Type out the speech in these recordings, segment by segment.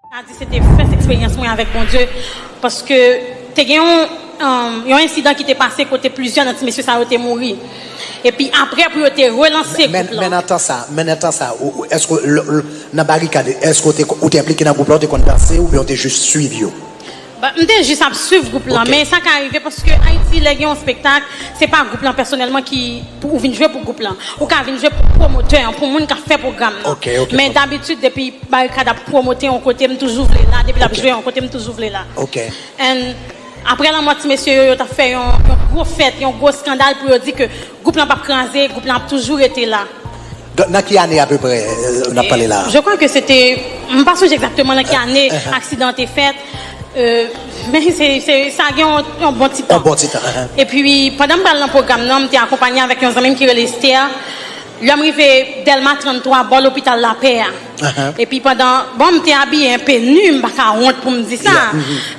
ka di se te fès eksperyans mwen avèk Bondye paske te gen yon ensidan ki te pase kote plizyè nan ti mesye sa yo te mouri epi aprè pou yo te relanse gwoup lan. Men nan tan sa, men nan tan sa èske nan barikad èske ou te enplike nan gwoup lan, ou te konn danse oubyen ou te jis swiv yo? M te jis ap swiv gwoup lan men sa ka rive paske Ayiti lè gen yon spektak se pa gwoup lan pèsonèlman ki pou ou vin jwe pou gwoup lan ou ka vin jwe pou pwomotè an pou moun k ap fè pwogram nan men dabitid depi Barikad ap pwomote yon kote m toujou vle la depi l ap jwe yon kote m toujou vle la aprè lanmò ti mesye yo yo t ap fè yon gwo fèt yon gwo skandal pou yo di ke Gwoup lan pap kraze, gwoup lan ap toujou rete la. Donk nan ki ane apeprè n ap pale la a? Je kwa ke se te, m pa sonje egzakteman nan ki ane aksidan an te fèt, men se, sa gen yon bon ti tan. Yon bon ti tan. Epi pandan m pral nan pwogram nan, m te akonpanye avèk yon zanmi m ki rele Esther, lè m rive Dèlma 33, bò lopital Lapè a. Epi pandan, bon m te abiye enpe nu, m pa ka wont pou m di sa.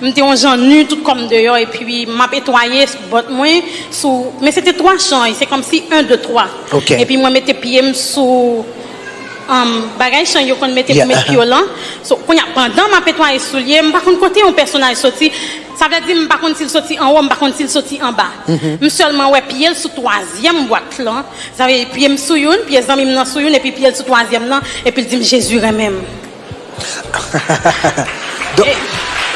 M te yon jan nu, tout kò m deyò epi m ap etwaye sou bòt mwen, sou, men se te twa chany, se kòmsi en, de, twa. Epi mwen mete pye m sou um bagay chany yo konn mete pou met pye w lan. So, kounye a, pandan m ap etwaye soulye, m pa konn kote yon pèsonaj soti. Sa vle di m pa konn si l soti anwo, m pa konn si l soti anba. M sèlman wè pye l sou twazyèm bwat lan, sa vle di pye m sou youn, pye zanmi m nan sou youn epi pye l sou twazyèm nan, epi l di m Jezi renmen m.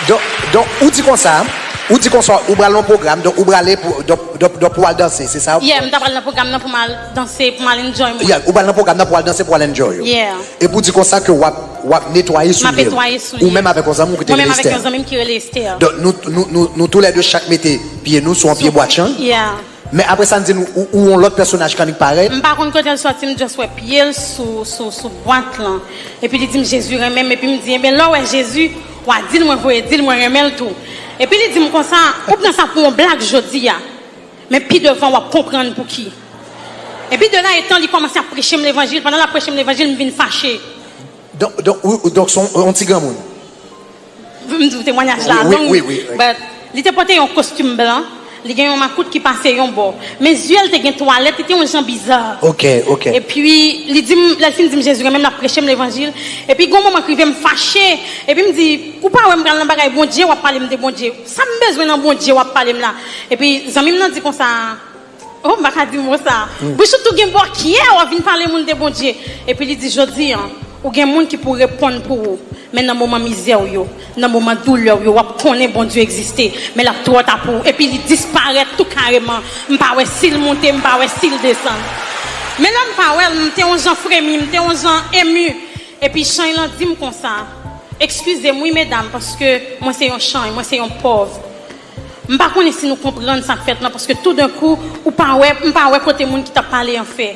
Donk, donk, ou di konsa, ou di konsa ou pral nan yon pwogram, donk ou prale pou, donk, donk, donk pou w al danse, se sa? Yeah, m ta pral nan pwogram nan pou m al danse, pou m al enjoy mwen. Yeah, ou pral nan pwogram nan pou w al danse, pou w al enjoy ou. Yeah. Epi ou di konsa ke w ap. Wap netwaye soulye l. Ou menm avèk yon zanmi w ki te rele Esther. Donk nou tou lè 2 chak mete pye nou sou yon pye bwatchang. Men apre sa n di n ou yon lòt pèsonaj kannik parèy. M pa konn kote l sòti m just wè pye l sou bwat lan. Epi li di m Jezi renmen m epi m di enben lè w wè Jezi wa di l mwen voye di l mwen renmen l tou. Epi li di m konsa ou pran sa pou yon blag jodi a. Men pi devan wap konprann pouki. Epi de la etan li kòmanse ap preche m levanjil, pandan lap preche m levanjil m vin fache. Donk, donk se yon ti granmoun. M di w temwanyaj la long, but li te pòte yon kostim blan, li gen yon makout ki pase yon bò, men zye l te gen twalèt, li te yon jan biza. Ok, ok. Epi li di m, lè l fin di m Jezi renmen m lap preche m levanjil, epi gon moman k rive m fache, epi m di, ou pa wè m pral nan bagay Bondye, wap pale m de Bondye. Sam bezwen nan Bondye wap palem la epi zanmim nan di konsa oh m paka di mo sa Bouch ou tou gen bò kyè wap vin pale moun de Bondye epi li di jodi an ou gen moun ki pou reponn pou ou men nan moman mizè ou yo nan moman doulè ou yo wap konnen Bondye egziste men lap twò ta pou ou epi li disparèt tou kareman m pa wè sil monte m pa wè sil desann men lèm pa wèl m te on jan fremi m te on jan emu. Epi chany lan dim konsa, Ekskizem wi medam paske mwen se yon chany, mwen se yon pòv. M pa konnen si nou konprann sak fèt lan paske tou dan kou ou pa wè, m pa wè kote moun ki tap pale an fè.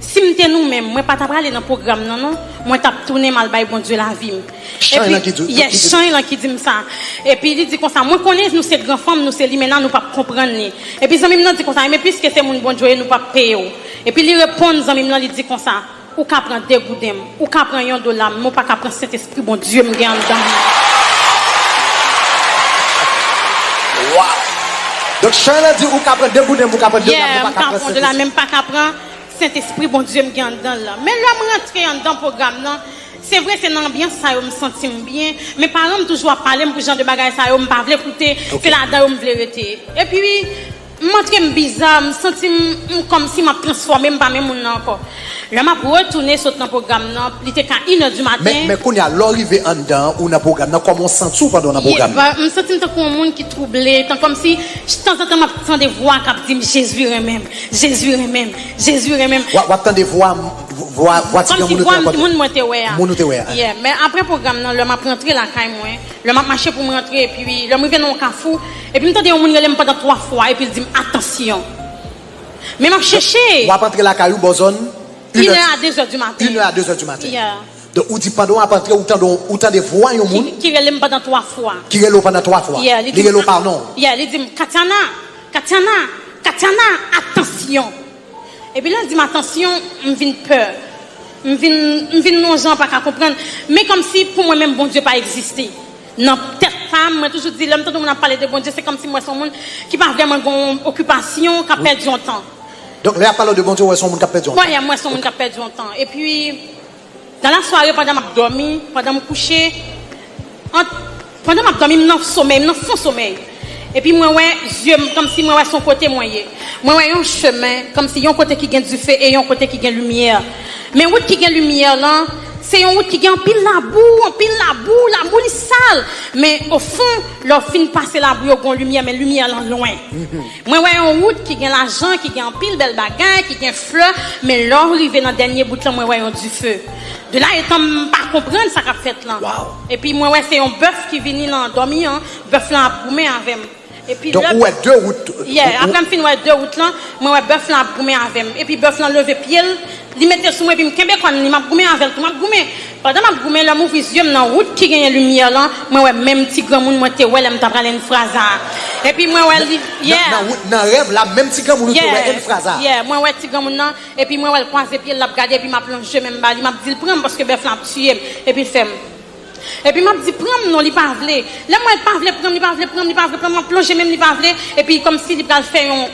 Si m te nou menm, mwen pa ta prale nan pwogram nan non, mwen tap tounen m al bay Bondye lavi m. Chany lan ki di w? Yes, chany lan ki dim sa. Epi li di konsa, mwen konnen nou se gran fanm, nou se limena, nou pap konprann li. Epi zanmi m nan di konsa, enben piske se moun Bondye w ye nou pap peye w. Epi li reponn zanmi m lan li di konsa. Ou ka pran degouden m, ou ka pran yon dola m, men w pa ka pran Sentespri Bondye m gen anndan m nan. Waww! Donk chan an di ou ka pran degouden m, ou ka pran dola m, men w pa ka pran Sentespri. Yeah, men m pa ka pran Sentespri Bondye m gen anndan l lan. Men lè m rantre anndan pwogram nan, se vre se nan anbyans sa yo m santi m byen, men paran m toujou ap pale m pou jan de bagay sa yo m pa vle koute, se ladan yo m vle rete. Epi. M antre m biza, m santi m m kòmsi m ap transfòme m pa menm moun nan ankò. Lè m ap retounen sot nan pwogram nan, li te ka inè di maten. Men kounye a, lè w rive anndan an, ou nan pwogram nan, kòman w santi w pandan w nan pwogram nan? M santi m tankou yon moun ki twouble, tan kòmsi ch tanzantan m ap tande vwa k ap di m Jezi renmen m, Jezi renmen m, Jezi renmen m. W ap tande vwa vwa ti granmoun ou te rankontre a? Kòmsi vwa moun mwen te wè a. Moun ou te wè a. Yeah. Men apre pwogram nan, lè m ap rantre lakay mwen. Lè m ap mache pou m rantre epi lè m rive nan yon kafou epi m tande yon moun rele m pandan 3 fwa epi l di m atansyon. Men m ap chèche. W ap antre lakay ou bò zòn inè a dezè di maten. Inè a dezè di maten. Donk ou di pandan w ap antre ou tande ou tande vwa yon moun. Ki rele m pandan 3 fwa. Ki rele w pandan 3 fwa. Li rele w pa non w. Li di m Katyana, Katyana, Katyana, atansyon. Epi lè l di m atansyon, m vin pè. M vin m vin yon jan pa ka konprann. Men kòmsi pou mwen menm Bondye pa egziste. Nan tèt pa m, mwen toujou di lè m tande yon moun ap pale de Bondye se kòmsi m wè se yon moun ki pa vrèman gen yon okipasyon, k ap pèdi yon tan. Donk lè y ap pale w de Bondye ou wè se yon moun k ap pèdi yon tan? Wè, m wè se yon moun k ap pèdi yon tan. Epi Dan la sware pandan map dòmi, pandan m kouche, ant pandan map dòmi m nan somèy, m nan fon somèy epi mwen wè zye m kòmsi mwen wè son kote mwen ye mwen wè yon chemen kòmsi yon kote ki gen dife e yon kote ki gen limyè men wout ki gen limyè lan se yon wout ki gen anpil labou anpil labou labou li sal men ofon lè w fin pase labou yo gon limyè men limyè lan lwen. Mwen wè yon wout ki gen lajan, ki gen anpil bèl bagay, ki gen flè, men lè w rive nan dènye bout lan mwen wè yon dife. De la etan m pa konprann sa k ap fèt lan. Epi mwen wè se yon bèf ki vini lan dòmi an, bèf lan ap goumen avè m. Donk ou wè 2 wout. Yeah, aprè m fin wè 2 wout lan, mwen wè bèf lan ap goumen avè m. Epi bèf lan leve pye l, Li mete sou mwen epi m kenbe kòn li, m ap goumen avè l tou. M ap goumen. Pandan m ap goumen, lè m ouvri zye m nan wout ki genyen limyè lan, mwen wè menm ti granmoun mwen te wè lè m t ap rale Enfraza a. Epi mwen wè li, yeah. Nan wout, nan rèv la, menm ti granmoun ou te wè Enfraza a. Yeah, yeah. Mwen wè ti granmoun nan, epi mwen wè l kwaze pye l, l ap gade, epi m ap lonje men m ba li, m ap di l pran m paske bèf lan ap tiye m. Epi l fè m. Epi m ap di pran m non, li pa vle. Lè m wè l pa vle pran m, li pa vle pran m, li pa vle pran m, m ap lonje men m, li pa vle, epi kòmsi li pral fè yon.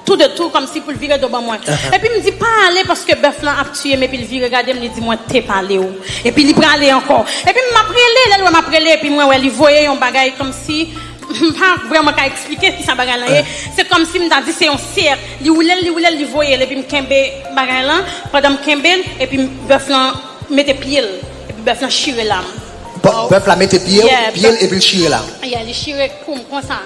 Tou de tou kòmsi pou l vire do ban mwen. Epi m di, Pa ale paske bèf lan ap tiye m epi l vire gade m li di mwen te pale w. Epi li prale ankò. Epi m ap rele lè l wè m ap rele epi mwen wè li voye yon bagay kòmsi m pa vrèman ka eksplike kisa bagay lan ye se kòmsi m ta di se yon sèk li woule l li woule l li voye l epi m kenbe bagay lan pandan m kenbe l epi bèf lan mete pye l epi bèf lan chire lam. Bèf la mete pye l epi l chire lam. Yeah li chire kou m konsa.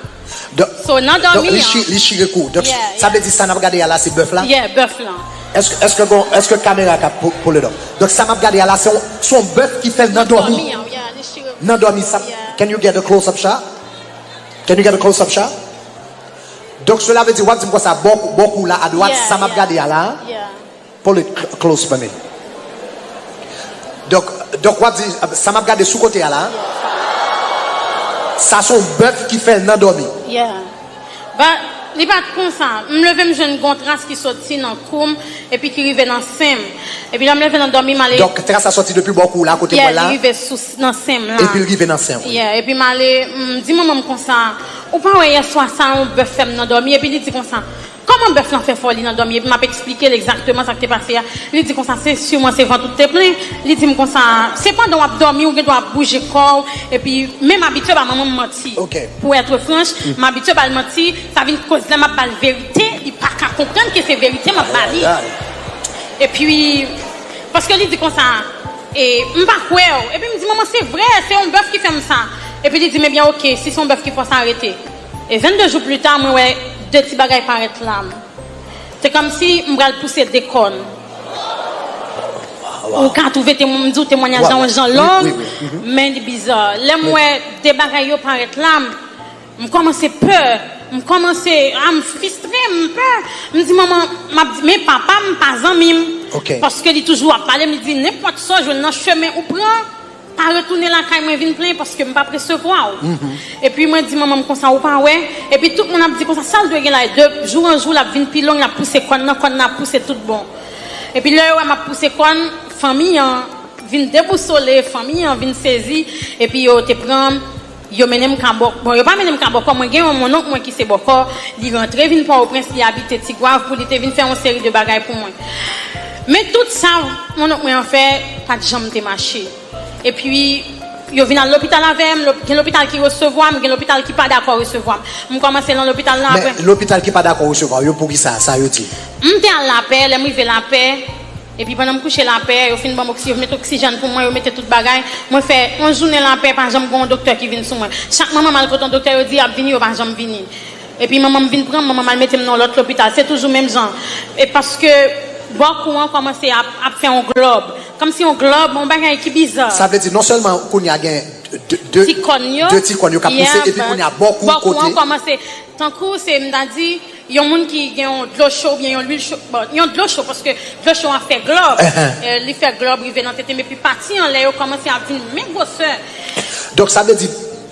So nan dòmi an. Donk li chire kou. Donk sa vle di sa nap gade a la se bèf la? Yeah bèf lan. Eske gon eske kamera ka pull it up? Donk sa map gade a la se yon se yon bèf ki fè nan dòmi. Nan dòmi an yeah li chire kou. Nan dòmi sa can you get a close up shot? Can you get a close up shot? Donk sela vle di wap dim konsa bò kou la a dwat sa map gade a la? Yeah. Pull it close for me Dok Dok wap di sa map gade sou kote a la sa son bèf ki fèl nan dòmi. Yeah But li pat konsa M leve m jwenn gon tras ki soti nan koum epi ki rive nan senm Epi lèm leve nan dòmi m ale Dok tras la soti depi bò kou w la kote mwen Yeah la li rive sou nan senm la epil rive nan senw wi. Yeah epi m ale m di manmanm konsa Ou pa wè yèswa sa on bèf fèm nan dòmi epi li di konsa. Kòman bèf lan fè fòli nan dòmi epi map eksplike l egzakteman sa k te pase a, li di konsa se siman se vant ou k te plen, li di m konsa se pandan wap dòmi ou gen dwa ap bouje kò w epi men m abitye ba manman m manti pou être franche m abitye ba l manti sa vin koz lè map ba l verite li pa ka konprann ke se verite map ba li epi paske li di konsa e m pa kwè w epi m di manman se vrè se yon bèf ki fè m sa epi li di m ebyen ok si se yon bèf ki fò sa rete. E 22 jou plita mwen wè de ti bagay parèt la m se kòmsi m pral pouse de kòn ou ka twouve m di w temwanyaj la yon jan long men li biza lè m wè de bagay yo parèt la m m kòmanse pè m kòmanse a m fistre m pè m di manman m ap di men papa m pa zanmi m paske li toujou ap pale m li di nenpòt sa w jwenn nan chemen ou pran Pa retounen lakay mwen vin plenyen paske m pap resevwa w. Epi mwen di manman m konsa ou pa wè. Epi tout moun ap di konsa sa l dwe gen la e de jou an jou l ap vin pi long l ap pouse kòn nan kòn nan ap pouse tout bon. Epi lè yo wè m ap pouse kòn fanmi an vin debousole fanmi an vin sezi epi yo te pran Yo mennen m ka bòkò. Bon, yo pa mennen m ka bòkò, mwen gen yon monnonk mwen ki se bòkò, li rantre vin Pòwoprens, li abite Tigwav pou li te vin fè yon seri de bagay pou mwen. Men tout sa monnonk mwen an fè pa t janm te mache. Epi, yo vin al lopital avè m, gen lopital ki resevwa m, gen lopital ki pa dakò resevwa m. M kòmanse lan lopital lan, Men, apre. lopital ki pa dakò resevwa w yo, poukisa? Sa yo di? M te al Lapè, lè m rive Lapè, Epi pandan m kouche lapè, yo fin ban m oksi, yo met oksijèn pou mwen, yo mete tout bagay. Mwen fè yon jounen lapè, pa janm gen yon doktè ki vin sou mwen. Chak manman m al kote yon doktè, yo di y ap vini, yo pa janm vini. Epi manman m vin pran m, manman m al mete m nan yon lòt lopital. Se toujou menm jan. E paske bò kou an kòmanse ap ap fè yon glòb. Kòmsi yon glòb, yon bagay ki biza. Sa vle di non sèlman kounye a gen de Ti kòn yo. de ti kòn yo k ap pouse, Yep. epi kounye a bò kou, Bò kou an kote. kòmanse tankou se m ta di. Yon moun ki gen yon dlo cho oubyen yon lwil cho, bon yon dlo cho paske dlo cho an fè glòb, li fè glòb rive nan tete m epi pati anlè yo kòmanse ap vin men gwosè. Donk sa vle di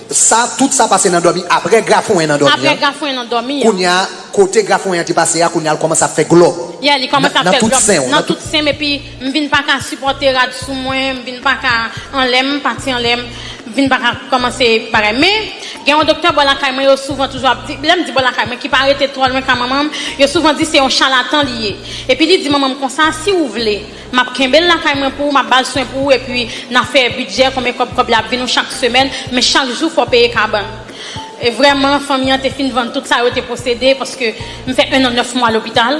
sa tout sa pase nan dòmi aprè grafouwen nan dòmi an. Aprè grafouwen nan dòmi an. Kounye a kote grafouwen an te pase a kounye a l kòmanse ap fè glòb nan tout sen w. Nan tout sen m epi M vin pa ka sipòte rad sou mwen, m vin pa ka anlè, m pati anlè, m vin pa ka kòmanse bagay. Men, gen yon doktè bò lakay mwen yo souvan toujou ap di, lè m di bò lakay mwen ki pa rete twò lwen ka manman m, yo souvan di se yon chalatan li ye. Epi li di manman m konsa, si ou vle, m ap kenbe l lakay mwen pou ou, m ap ba l swen pou ou epi n a fè bidjè konbyen kòb kòb li ap vin ou chak semèn, men chak jou fò w peye kabann. E vrèman, fanmi an te fin vann tout sa yo te posede paske m fè ennan nèf mwa lopital.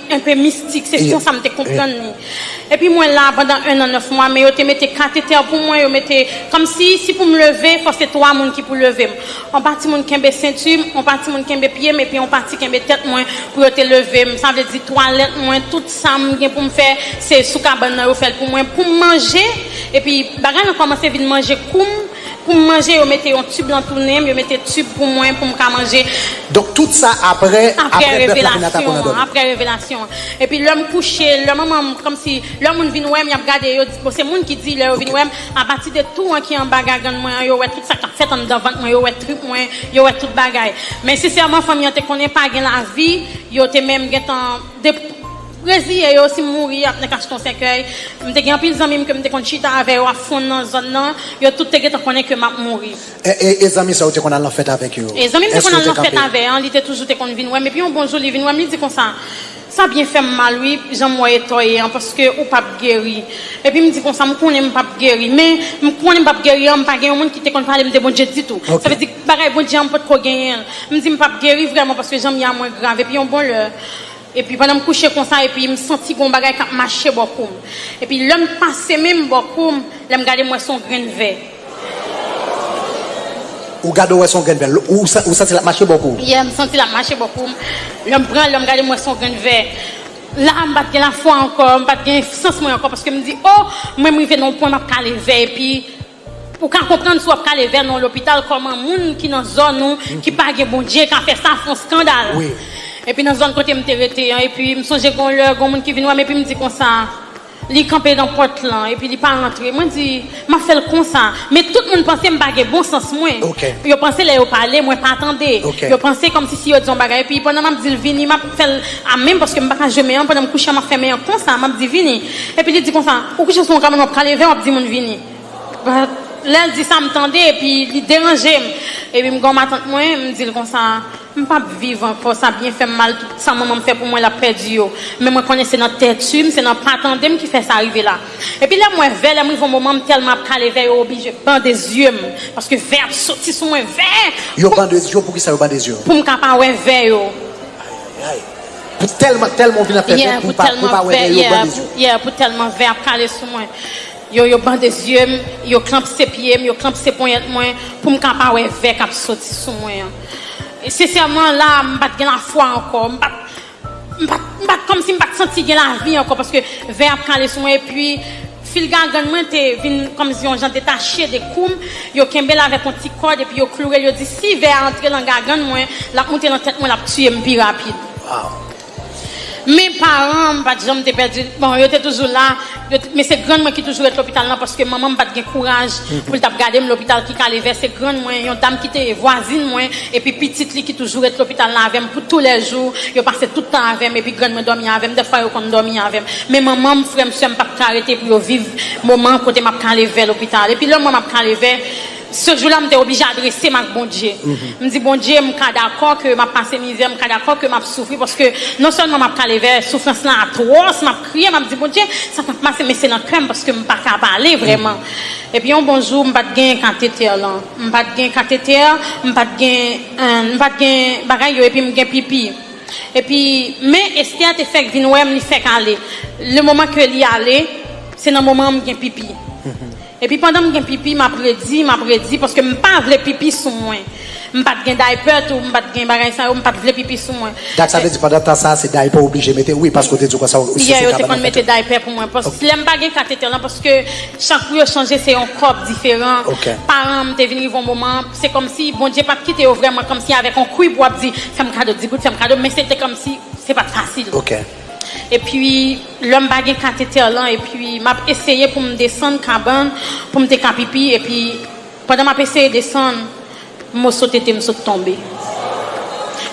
Enpe mistik, se konsa m te konprann li. Epi mwen la pandan ennan nèf mwa, men yo te mete katetè pou mwen, yo mete, kòmsi, si pou m leve, fò se twa moun ki pou leve m. On pati moun kenbe sentu m, on pati moun kenbe pye m, epi on pati kenbe tèt mwen pou yo te leve m. Sa vle di twalèt mwen, tout sa m gen pou m fè, se sou kabann nan yo fè l pou mwen, pou m manje. Epi bagay lan kòmanse vin manje kou m. Pou m manje yo mete yon tube lan tounen m yo mete tube pou mwen pou m ka manje. Donk tout sa aprè aprè bèf la fin atake w nan dòmi. Aprè revelasyon an. Epi lè m kouche lè manman m kòmsi lè moun vin wè m y ap gade yo bon se moun ki di lè yo vin wè m apati de tou an ki anba gagann mwen an yo wè tout sa k ap fèt anndan vant mwen yo wè trip mwen yo wè tout bagay men sensèman fanmi an te konnen pa gen lavi yo te menm gentan de Reziye yo si m mouri y ap nan kachton sèkèy. M te gen anpil zanmi m ke m te konn chita avè yo a fon nan zòn nan. Yo tout te gentan konnen ke m ap mouri. E zanmi sa ou te konn al nan fèt avèk yo? E zanmi m te konn al nan fèt avè an, li te toujou te konn vin wè m. Epi yon bon jou li vin wè m, li di konsa, Sa byen fè m mal wi, jan m wè etò ye an, paske ou p ap geri. Epi m di konsa, M konnen m p ap geri. Men, m konnen m p ap geri an, m pa gen yon moun ki te konn pale m de Bondye ditou. Sa vle di, bagay Bondye an m potko genyen l. M di m p ap geri vrèman paske jan m ye a mwen grav. Epi yon bon lè. Epi pandan m kouche konsa epi m santi gon bagay kap mache bò kou m. Epi lè m pase men m bò kou m, lè m gade m wè s on grenn vè. Ou gade w wè s on grenn vè. Ou santi lap mache bò kou w? Yeah, m santi lap mache bò kou m. Lè m pran l, lè m gade m wè s on grenn vè. La a m pat gen lafwa ankò, m pat gen sans mwen ankò paske m di oh mwen m rive nan yon pwen map kale vè epi Ou ka konprann si wap kale vè nan lopital kòman moun ki nan zòn ou ki pa gen Bondye ka fè sa fon skandal epi nan zòn kote m te rete an epi m sonje gon lè gon moun ki vin wè m epi m di konsa li kanpe nan pòt lan epi li pa rantre mwen di map fè l konsa men tout moun panse m pa gen bon sans mwen yo panse lè yo pale mwen pa tande yo panse kòmsi si yo di yon bagay epi pandan map di l vini map fè l a menm paske m pa ka jwe men an pandan m kouche an map fè men an konsa map di vini epi li di konsa ou kouche sou yon kabann wap kale vè wap di moun vini. Lè l di sa m tande epi li deranje m. Epi m gen yon matant mwen, m di l konsa, M p ap viv ankò, sa byen fè m mal, tout sa manman m fè pou mwen l ap pèdi yo. Men mwen konnen se nan tètu m, se nan pa tande m ki fè sa rive la. Epi lè m wè vè, lè m rive yon moman m tèlman ap kale vè yo oblije bande zye m, paske vè ap soti sou mwen, vè! Yo bande zye w, poukisa yo bande zye w? Pou m ka pa wè vè yo. Ayayayy! Pou tèlman, tèlman w vin ap fè vè, pou w pa wè vè yo, yo bande zye w. Yeah, pou tèlman vè ap kale sou mwen. Yo yo bande zye m, yo klanpse pye m, yo klanpse ponyèt mwen pou m ka pa wè vè k ap soti sou mwen an. Sensèman, la a, m pa t gen lafwa ankò. M pa t, m pa t, m pa t, kòmsi m pa t santi gen lavi ankò paske vè ap kale sou mwen epi fil gagann mwen te vin kòmsi yon jan detache de kou m. Yo kenbe l avèk yon ti kòd epi yo kloure l, yo di si vè a antre lan gagann mwen, l ap moute lan tèt mwen, l ap tiye m pi rapid. Waw! Men paran m pa t janm te pèdi, bon yo te toujou la, yo t, men se grann mwen ki toujou ret lopital lan paske manman m pa t gen kouraj pou l t ap gade m lopital ki kale vè, se grann mwen, yon dam ki te ye vwazin mwen epi pitit li ki toujou ret lopital la avè m pou tou lè jou, yo pase tout tan avè m epi grann mwen dòmi avè m, dèfwa yo konn dòmi avè m. Men manman m, frè m, sè m pa t ka rete pou yo viv moman kote m ap kale vè lopital epi lè mwen m ap kale vè. Se jou la m te oblije adrese m ak Bondye. M di, Bondye, m ka dakò ke m ap pase mizè, m ka dakò ke m ap soufri, paske non sèlman m ap kalevè, soufrans lan atwòs, m ap kriye, m ap di, Bondye, sa pa pase, men se nan kè m, paske m pa ka pale vrèman. Epi yon bon jou, m pa t gen katetè lan. M pa t gen katetè, m pa t gen, m pa t gen bagay yo, epi m gen pipi. Epi, men Esther te fèk vin wè m, li fèk ale. Le moman ke li ale, se nan moman an m gen pipi. Epi pandan m gen pipi map redi map redi paske m pa vle pipi sou mwen m pat gen diaper tou m pat gen bagay sa yo m pat vle pipi sou mwen Dak sa vle di pandan tan sa se diaper ou oblije mete wi paske ou te di ou konsa ou se sou kabann ou mete diaper pou mwen paske lèm pa gen katetè lan paske chak pou yo chanje se yon kòb diferan paran m te vin rive yon moman se kòmsi Bondye pat kite yo vrèman kòmsi avèk yon kwib wap di fèm kado 10 goud fèm kado men se te kòmsi se pat fasil. Epi lèm pa gen katetè lan epi map eseye poum desann kabann poum te ka pipi epi pandan map eseye desann moso tetem sot tonbe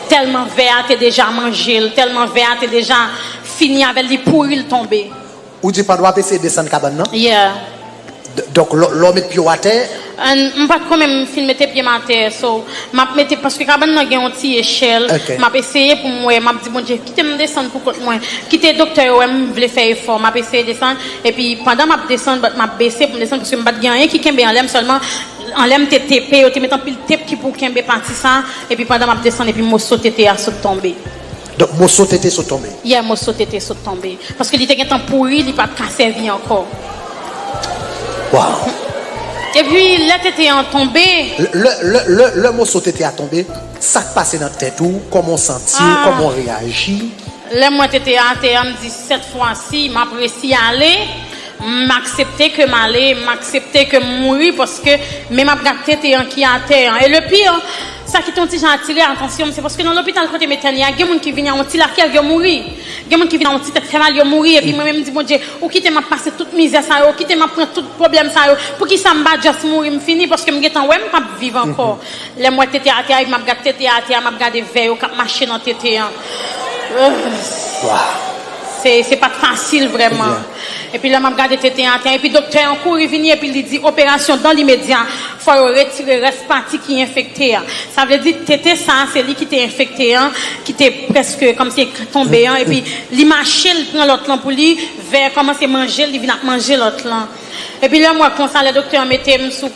tèlman vè a te deja manjel tèlman vè a te deja fini avèl li pouril tonbe. Ou di pandan w ap eseye desann kabann nan? Yeah. Donk lè w met pye w atè. An, m pa t ko menm fin mete pye m atè. So, m ap mete, paske kabann nan gen yon ti echèl. Ok. M ap eseye pou m wè, m ap di Bondye, kite m desann pou kont mwen. Kite doktè yo wè m vle fè efò. M ap eseye desann. Epi pandan m ap desann, but m ap bese pou m desann, paske m pa t gen anyen ki kenbe anlè m, sèlman anlè m te tepe. Yo te met anpil tep ki pou kenbe pati sa a. Epi pandan m ap desann, epi moso tete a sot tonbe. Donk moso tete sot tonbe. Yeah moso tete sot tonbe. Paske li te gentan pouri li pat ka sèvi ankò. Waww. Epi lè tete an tonbe. Lè moso tete a tonbe sak pase nan tèt ou kòman w santi w kòman w reyaji. Lèm wè tete a atè a m di sèt fwa si map resi ale. M aksepte ke m ale, m aksepte ke m mouri paske men m ap gad tete an ki atè an. E le pire, sa ki te yon ti jan atire atansyon m se paske nan lopital kote m etène a gen moun ki vini a yon ti lakèl yo mouri. Gen moun ki vini a yon ti tèt fè mal yo mouri epi mwen menm m di Bondye ou kite m ap pase tout mizè sa yo, ou kite m ap pran tout pwoblèm sa yo poukisa m pa just mouri m fini paske m gentan wè m pap viv ankò. Lè m wè tete atè a epi m ap gad tete a atè a m ap gade vè yo k ap mache nan tete an. Se pat fasil vrèman. Epi lè map gade tete an atè epi doktè an kouri vini epi li di operasyon dan limedya fò yo retire rès pati ki enfekte an sa vle di tete sa se li ki te enfekte an ki te prèske kòmsi tonbe an epi li mache li pran lòt lan pou li vè kòmanse manjel li vin ap manje lòt lan epi lèm wè konsa lè doktè an metem sou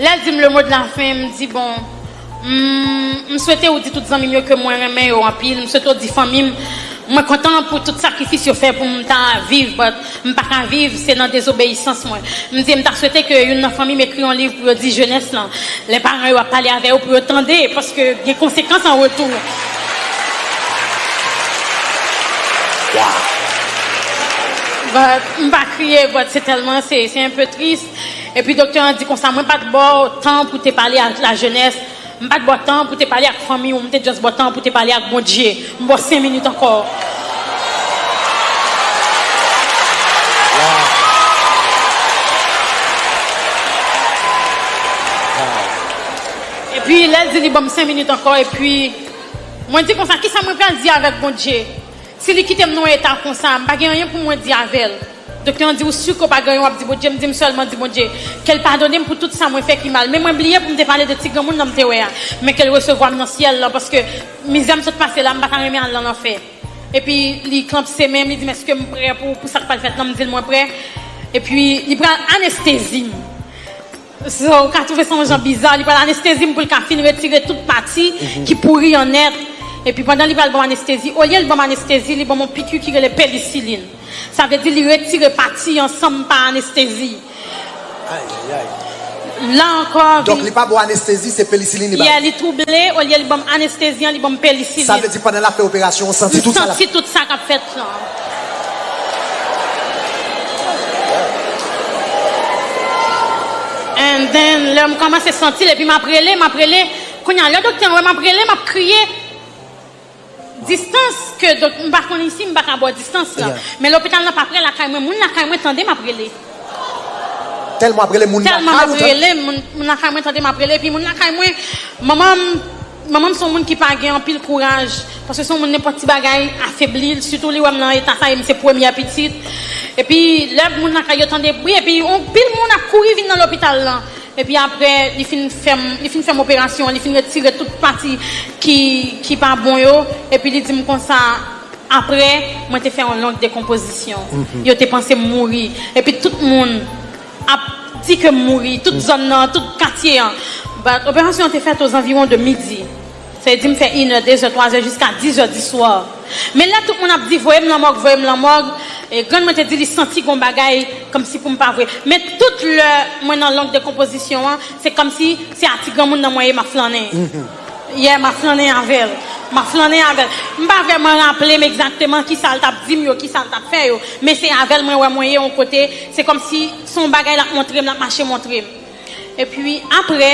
Lèl dim le mot de la fin m di bon m m swete ou di tout zanmim yo ke mwen renmen yo anpil m swete ou di fanmim mwen kontan pou tout sakrifis yo fè poum ta viv but m paka viv se nan dezobeyisans mwen m di em ta swete ke youn nan fanmim ekri yon liv pou yo di jenès lan lè paran yo ap pale avè yo pou yo tande paske gen konsekans an retou but m pa kriye but se tèlman se se enpe tris. Epi doktè an di konsa, mwen pa t ba w tan pou w te pale ak lajenès, m pa t ba w tan pou w te pale ak fanmi w, m te just ba w tan pou w te pale ak Bondye. M ba w sen minit ankò. Epi lè l di li ba m sen minit ankò, epi mwen di konsa, kisa mwen pral di avèk Bondye? Si li kitem nan yon eta konsa m pa gen anyen pou mwen di avèl Doktè an di ou su ke w pa gen anyen wap di Bondye m di m sèlman di Bondye kel padonem pou tout sa mwen fè ki mal men mwen bliye poum te pale de ti granmoun nan m te wè a men kel resevwam nan syèl lan paske mizè m sot pase la m pata renmen al nan lanfè epi li klanpse menm li dim eskem prè pou sak pral fèt lan m dil mwen prè epi li pral anestezim. Sa ou ka twouve sa yon jan biza, li pral anestezi m pou l ka fin retire tout pati ki pouri an nèt. Epi pandan li pral ban m anestezi, olye l ban m anestezi, li ban m yon piki ki rele penisilin. Sa vle di li retire pati an san m pa anestezi. Ayayay! La ankò, vin. Donk li pa ba w anestezi, se penisilin li ba w? Yeah, li twouble, olye li ban m anestezi an, li ban m penisilin. Sa vle di pandan l ap fè operasyon an, ou santi tout sa l ap. M santi tout sa k ap fèt. And then lè m kòmanse santil epi map rele map rele kounye a lè doktè an wè map rele map kriye distans ke m pa konn isi m pa ka ba w distans lan men lopital lan pa prè lakay mwen moun lakay mwen tande map rele tèlman map rele moun lakay mwen tande map rele epi moun lakay mwen manman m Manman m se yon moun ki pa gen anpil kouraj, paske se yon moun nenpòt ti bagay afebli l, sitou li wè m nan eta sa e m se premyè pitit. Epi lè moun lakay yo tande bri epi yon pil moun ap kouri vin nan lopital lan. Epi aprè li fin fè m li fin fè m operasyon an, li fin retire tout pati ki ki pa bon yo epi li di m konsa aprè mwen te fè yon long dekonpozisyon. Yo te panse m mouri epi tout moun. ap di ke m mouri, tout zòn nan, tout katye an. But, operasyon an te fèt ozanviwon de midi. Sa vle di m fè inè, dezè, twazè jiska dizè di swa. Men lè tout moun ap di voye m lan mòg, voye m lan mòg, grann mwen te di li santi gon bagay kòmsi pou m pa vwe. Men tout lè mwen nan long dekonpozisyon an, se kòmsi se a ti granmoun nan mwen ye m ap flannen. Yeah, m'a flannen avè l. M'a flannen avè l. M pa vrèman raple m egzakteman ki sa l t'ap di m yo, ki sa l t'ap fè yo, men se avè l mwen wè mwen ye yon kote, se kòmsi se yon bagay l'ap montre m, l'ap mache montre m. Epi aprè,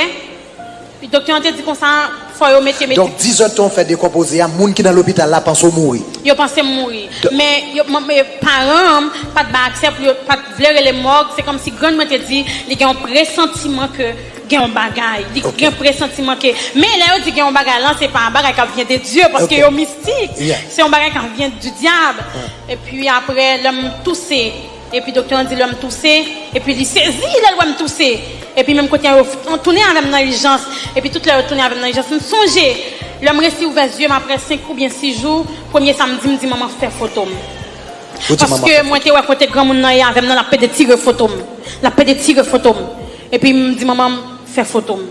doktè an te di konsa, fò yo mete medi. Donk, di zòt ke w fè dekonpoze a, moun ki nan lopital la panse w mouri. Yo panse m mouri. Men, yo, m, e, paran m pa t bay aksè pou yo, pa t vle rele m mòg, se kòmsi grann mwen te di li gen yon presantiman ke. Gen yon bagay, li gen presantiman ke, men lè yo di gen yon bagay lan se pa yon bagay kap vyen de Dye paske yo mistik, se yon bagay kap vyen di dyab, epi aprè lèm touse, epi doktè an di lèm touse, epi li sezi lèl wèm touse, epi menm kote an yo tounen avèm nan ijans, epi tout lè yo tounen avèm nan ijans m sonje lèm resi ouvè zyem aprè 5 oubyen 6 jou, premye sa m di m di manman fè fotom, paske mwen te wè kote granmoun nan ye avèm nan lap pede tire fotom, lap pede tire fotom. Epi m di manman m, Fè foto m.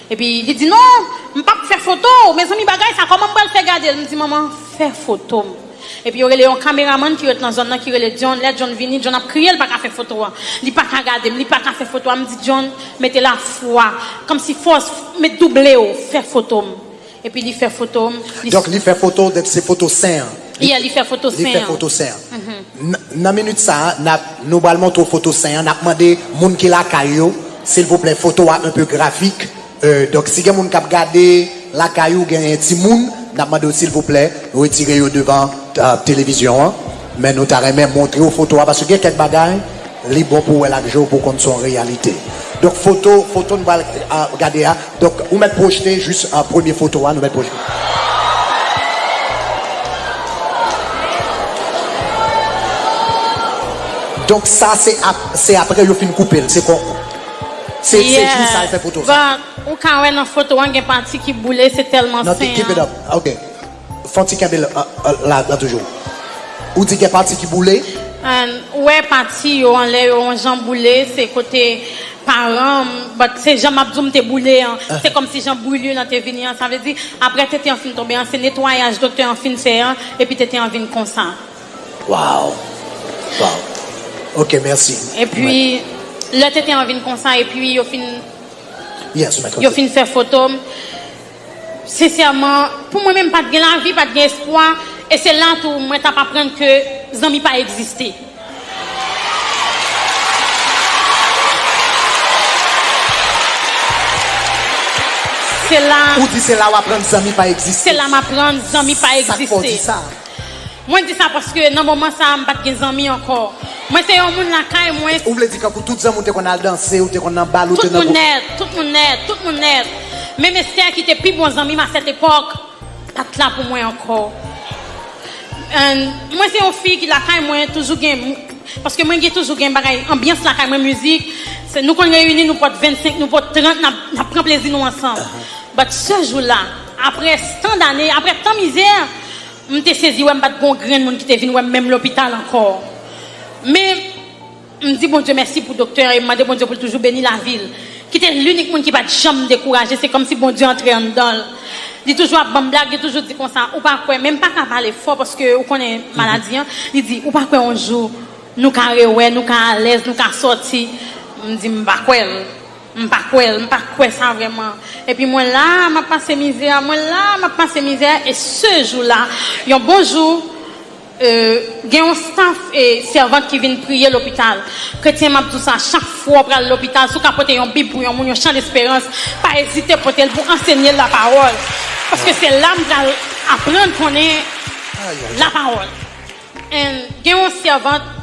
Epi li di, Non, m p ap fè foto w. Mezanmi, bagay sa a, kòman m pral fè gade l? M di manman, Fè foto m. Epi yo rele yon kameramann ki ret nan zòn nan ki rele John. Lè John vini, John ap kriye l pa ka fè foto a. Li pa ka gade m, li pa ka fè foto a. M di John, Mete lafwa, kòmsi fòs, met double w, fè foto m. Epi li fè foto m. Donk li fè foto w, donk se foto sen an. Yeah, li fè foto sen an. Li fè foto sen an. Nan minit sa a, n ap, nou pral montre w foto sen an. N ap mande moun ki lakay yo, silvouplè, foto a un peu graphique. Donk si gen moun k ap gade lakay ou, genyen timoun, n ap mande w silvouplè, retire yo devan televizyon an. Men nou ta renmen montre w foto a, paske gen kèk bagay, li bon pou w wè l ak je w pou w konn se yon reyalite. Donk foto, foto nou pral gade a. Donk ou mèt pwojte jis premye foto a nou mèt pwojte. Donk sa se apre yo fin koupe l se kon se jou sa yo fè foto sa. Yeah but ou ka wè nan foto an gen pati ki boule se tèlman sen an. Keep it up ok. Fanti kenbe la dan toujou. Ou di gen pati ki boule. An ou wè pati yo anlè yo yon jan boule se kote paran m but se jan map di w m te boule an se kòmsi jan brûlure lan te vini an sa vle di aprè tete an fin tonbe an se netwayaj doktè an fin fè an epi tete an vin konsa. Waww waww ok mèsi. Epi lè tete an vin konsa epi yo fin yes mèt yo fin fè foto m. Sensèman, pou mwen menm m pat gen lavi, pat gen espwa, e se la tou mwen tap aprann ke zanmi pa egziste. Se la. Ou di se la w aprann zanmi pa egziste. Se la m aprann zanmi pa egziste. Sak fè w di sa? Mwen di sa paske nan moman sa a m pat gen zanmi ankò. Mwen se yon moun lakay mwen. Ou vle di kankou tout zanmi w te konn al danse, ou te konn nan bal, ou te nan group. Tout moun nèt, tout moun nèt, tout moun nèt. Menm Esther ki te pi bon zanmi m a cette époque pat la pou mwen ankò. And mwen se yon fi ki lakay mwen toujou gen paske mwen gen toujou gen bagay anbyans lakay mwen mizik. Nou konn reyini nou pot 25, nou pot 30 n ap pran plezi nou ansanm. But ce jour là. Apre tan dane, apre tan mizè, m te sezi wè m pa t gen yon grenn moun ki te vin wè m menm lopital ankò. Men, m di Bondye mèsi pou doktè an e m mande Bondye pou l toujou beni lavi l, ki te linik moun ki pa t janm dekouraje. Se kòmsi Bondye antre anndan l. Li toujou ap ban m blag, li toujou di konsa, Ou pa kwè, men m pa ka pale fò paske ou konnen maladi an, li di, Ou pa kwè yon jou nou ka rewè, nou ka alèz, nou ka sòti? M di m pa kwè l. M pa kwè l, m pa kwè sa vrèman. Epi mwen la a m ap pase mizè a, mwen la a m ap pase mizè a, e se jou la, yon bon jou, gen yon staf sèvant ki vin priye lopital. Kretyen, m ap di w sa, chak fwa w pral lopital, si w ka pote yon bib pou yon moun, yon chan lesperans, pa ezite pote l pou ansenye l lapawòl. Paske se la m pral aprann konnen lapawòl. And gen yon sèvant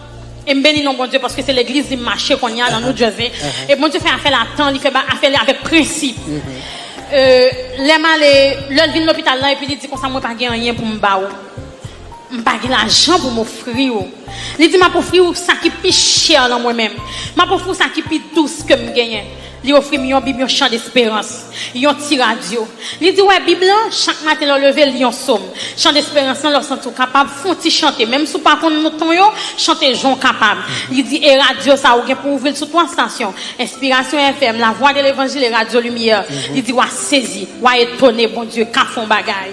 e m beni non Bondye paske se legliz li mache konnya nan New Jersey e Bondye fè afè l a tan li fè ba afè li avèk prensip euh lè m ale lè l vin lopital la epi li di konsa mwen pa gen anyen pou m ba ou m pa gen lajan pou m ofri ou li di m ap ofri ou sa ki pi chè nan mwen menm m ap ofri ou sa ki pi dous ke m genyen Li ofri m yon Bib, yon Chan Desperans, yon ti radyo. Li di, Wè Bib lan, chak maten lè w leve, li yon som. Chan Desperans lan, lè w santi w kapab, fon ti chante, menm si w pa konn non ton yo, chante jan w kapab. Li di, E radyo sa a, ou gen pou w ouvri l sou twa stasyon, Enspirasyon FM, Lavwa de Levanjil e Radyo Limyè. Li di, W a sezi, w a etone, Bondye ka fè yon bagay.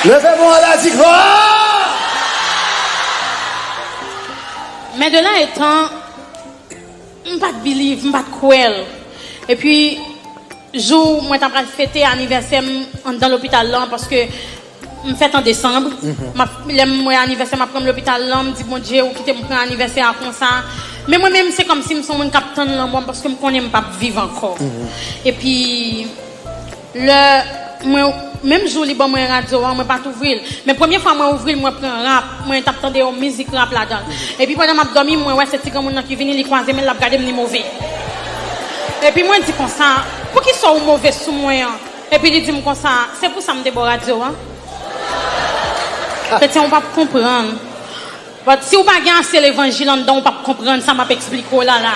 Leve men w anlè, di, Glwa! Men de la etan, m pa t biliv, m pa t kwè l. Epi, jou mwen ta pral fete anivèsè m anndan lopital lan, paske m fèt an desanm, lè m wè anivèsè m ap pran m lopital lan, m di Bondye ou kite m pran anivèsè a konsa. Men mwen menm se kòmsi m son moun k ap tann lanmò m paske m konnen m p ap viv ankò. Epi, Lè mwen Menm jou li ban mwen radyo an mwen pat ouvri l men premye fwa mwen ouvri l mwen pran rap mwen tap tande yon mizik rap ladan l epi pandan map dòmi mwen wè se ti granmoun nan ki vini li kwaze men l lap gade m li move epi mwen di konsa poukisa ou move sou mwen an epi li di m konsa se pou sa m te ba w radyo an kretyen ou pap konprann but si ou pa gen ase levanjil anndan w pap konprann sa map esplike w la la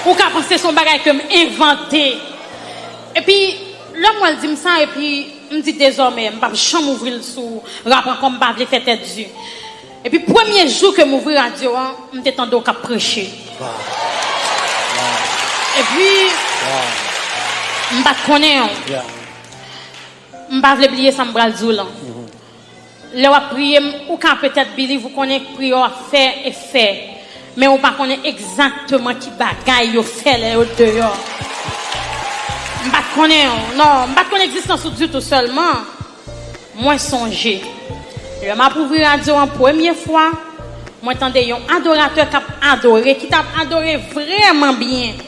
ou ka panse se yon bagay ke m envante. Epi lè m wè l di m sa epi m di dezòmè m pap janm ouvri l sou rap ankò m pa vle fè tèt di. Epi premye jou ke m ouvri radyo an m te tande w k ap preche. Epi m pa t konnen w. M pa vle bliye sa m pral di w lan. Lè wap priye m ou ka petèt biliv ou konnen priyè wap fè e fè men ou pa konnen egzakteman ki bagay yo fè lè yo deyò m pat konnen w non m pat konn egzistans ou ditou sèlman mwen sonje lè map ouvri radyo an premye fwa mwen tande yon adoratè kap adore ki tap adore vrèman byen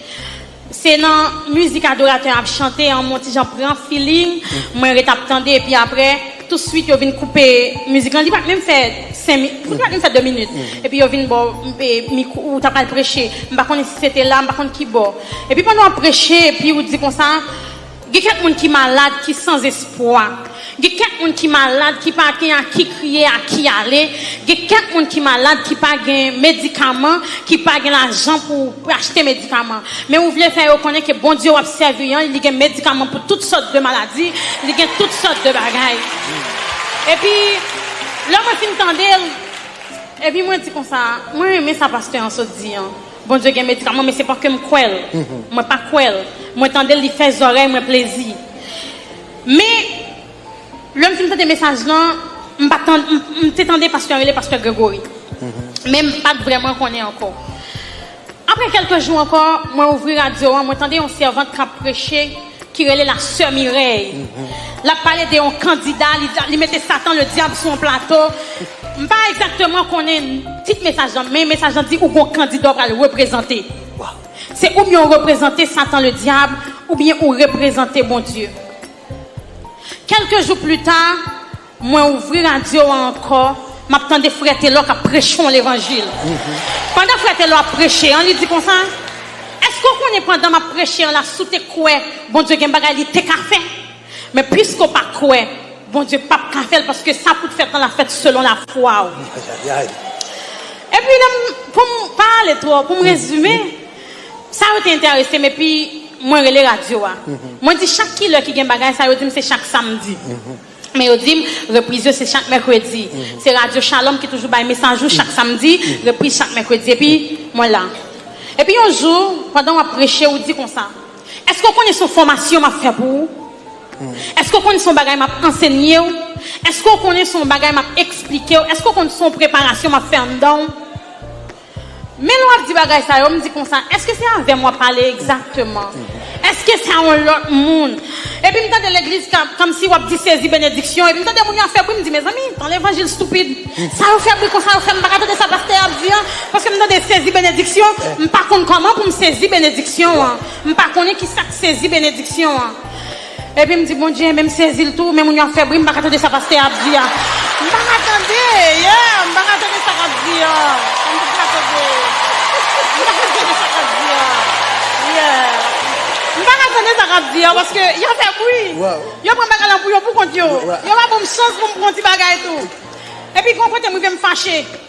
Se nan mizik adoratè an ap chante an mwen ti jan pran feeling mwen ret ap tande epi aprè tou swit yo vin koupe mizik lan li pat menm fè 5 min li pat menm fè 2 minit epi yo vin baw mikwo ou ta pral preche m pa konnen si se te la m pa konn kibò epi pandan wap preche epi ou di konsa Gen kèk moun ki malad, ki san zespwa. Gen kèk moun ki malad, ki pa gen a ki kriye, a ki ale. Gen kèk moun ki malad, ki pa gen medikaman, ki pa gen lajan pou achte medikaman. Men ou vle fè yo konnen ke Bondye wap sèvi an, li gen medikaman pou tout sòt de maladi, li gen tout sòt de bagay. Epi, lè mwen fin tande l, epi mwen di konsa, mwen renmen sa pastè an sot di an. Bondye gen medikaman men se pa kem kwè l mwen pa kwè l mwen tandel li fè zòrèy mwen plezi men lèm fin tande mesaj lan m pa tande m te tande pastè an rele pastè Gregory men m pat vrèman konnen ankò aprè kèlke jou ankò mwen ouvri radyo an mwen tande yon sèvant kap preche ki rele la sè Mireille lap pale de yon kandida li mete satan le diab sou yon plato m pa egzakteman konnen tit mesaj lan men mesaj lan di ou gon kandida ou pral reprezante se oubyen ou reprezante satan le diab oubyen ou reprezante Bondye kelke jou pli ta. Mwen ouvri radyo an ankò, m ap tande frè Telò k ap preche yon levanjil. Pandan frè Telò ap preche an, li di konsa, Èske w konnen pandan m ap preche an la si w te kwè Bondye gen bagay li te ka fè? Men piske w pa kwè, Bondye p ap ka fè l paske sa pou w t fèt lan la fèt selon lafwa w. Epi lè m, pou m pa ale twò, pou m rezime, sa yo te enterese m epi mwen rele radyo a. Mwen di chak kilè ki gen bagay sa yo di m se chak samdi. Men yo di m, repriz yo se chak mèkredi. Se radyo Shalom ki toujou bay mesaj ou chak samdi, repriz chak mèkredi. Epi, mwen la. Epi yon jou, pandan w ap preche, ou di konsa, Èske w konnen se yon fòmasyon m ap fè pou ou? Èske w konnen se yon bagay m ap ansenye w? Èske w konnen se yon bagay m ap esplike w? Èske w konnen se yon preparasyon m ap fè anndan w? Men lè w ap di bagay sa yo, m di konsa, èske se avè m w ap pale egzakteman? Èske se a yon lòt moun? Epi m tande legliz k ap kòmsi w ap di sezi benediksyon, epi m tande moun yo ap fè bri, m di mezanmi, tan levanjil stupid sa yo fè bri konsa yo fè m pa ka tande sa pastè a ap di an, paske m tande sezi benediksyon, m pa konn kòman pou m sezi benediksyon an, m pa konnen kisa k sezi benediksyon an. Epi m di Bondye men m sezil tou men moun yo ap fè bri m paka tande sa pastè a ap di a m paka tande yeah m paka tande sa kap di an m paka tande m paka tande sa kap di an yeah m paka tande sa kap di an paske yo fè bri yo pran bagay lan pou yo pou kont yo yo pa banm chans pou m pran ti bagay tou epi gon kote m rive m fache.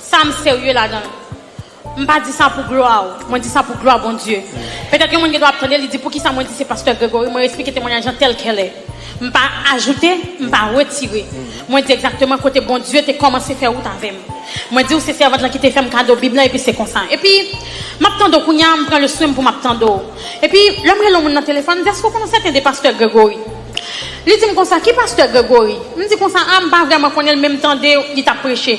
Sam serye ladanl. M pa di sa pou glwa w, mwen di sa pou glwa Bondye. Petèt yon moun gen dwa ap tande li di poukisa mwen di se pastè Gregory, mwen esplike temwanyaj lan tèlkèlè. M pa ajoute, m pa retire. Mwen di egzakteman kote Bondye te kòmanse fè wout avè m. Mwen di w se sèvant lan ki te fè m kado bib lan epi se konsa. Epi m ap tande w kounye a, m pran le swen m pou m ap tande w. Epi lè m rele yon moun nan telefòn, m di èske w konnen sèten de pastè Gregory? Li di m konsa, ki pastè Gregory? M di konsa, a m pa vrèman konnen l men m tande li t ap preche.